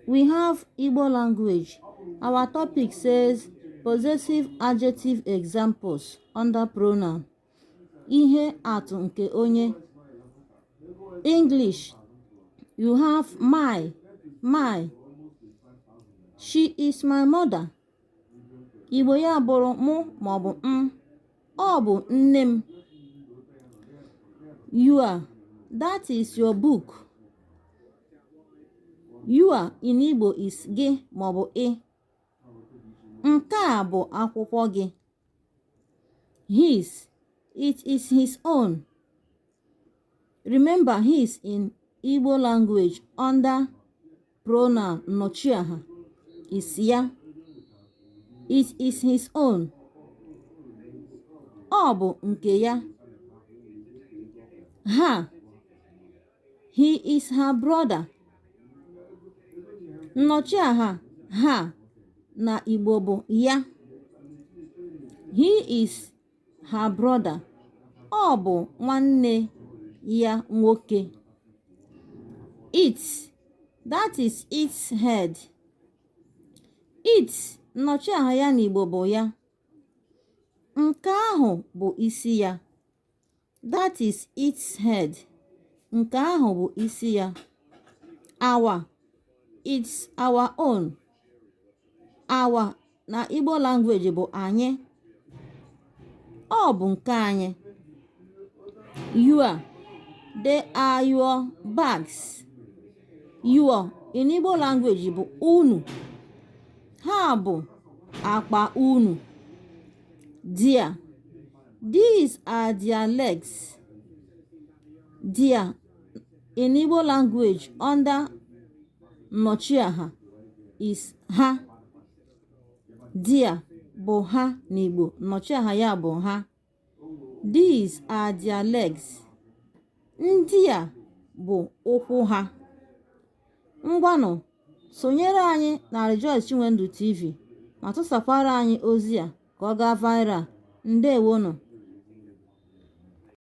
we have igbo language our topic says possessive adjective examples under pronoun ihe atụ nke onye english you have my my she is my mother igbo ya bụrụ mụ maọbụ m ọ bụ nne m your that is your book your in Igbo is gị maọbụ ị nke a bụ akwụkwọ gị his it is his own remember his in Igbo language under Pronoun nnọchiaha is ya it is his own ọ bụ nke ya her he is her brother nnọchiaha her na igbo bụ ya he is her brother ọ bụ nwanne ya nwoke it that is its head it nnọchiaha ya n'Igbo bụ ya nke ahụ bụ isi ya That is its head. Nke ahụ bụ isi ya. Our, it's our own. Our na Igbo language bụ anyị. Ọ bụ nke anyị. Your, they are your bags. Your in Igbo language bụ unu. Ha bụ akpa unu. Their. These are their legs. Their in Igbo language under Nnọchiaha is ha. Their bụ ha n'Igbo. Nnọchiaha ya bụ ha. These are their legs. Ndị a bụ ụkwụ ha. Ngwanụ sonyere anyị na Rejoice Chinwendu TV ma tụsakwara anyị ozi a ka ọ gaa viral. Ndewonụ.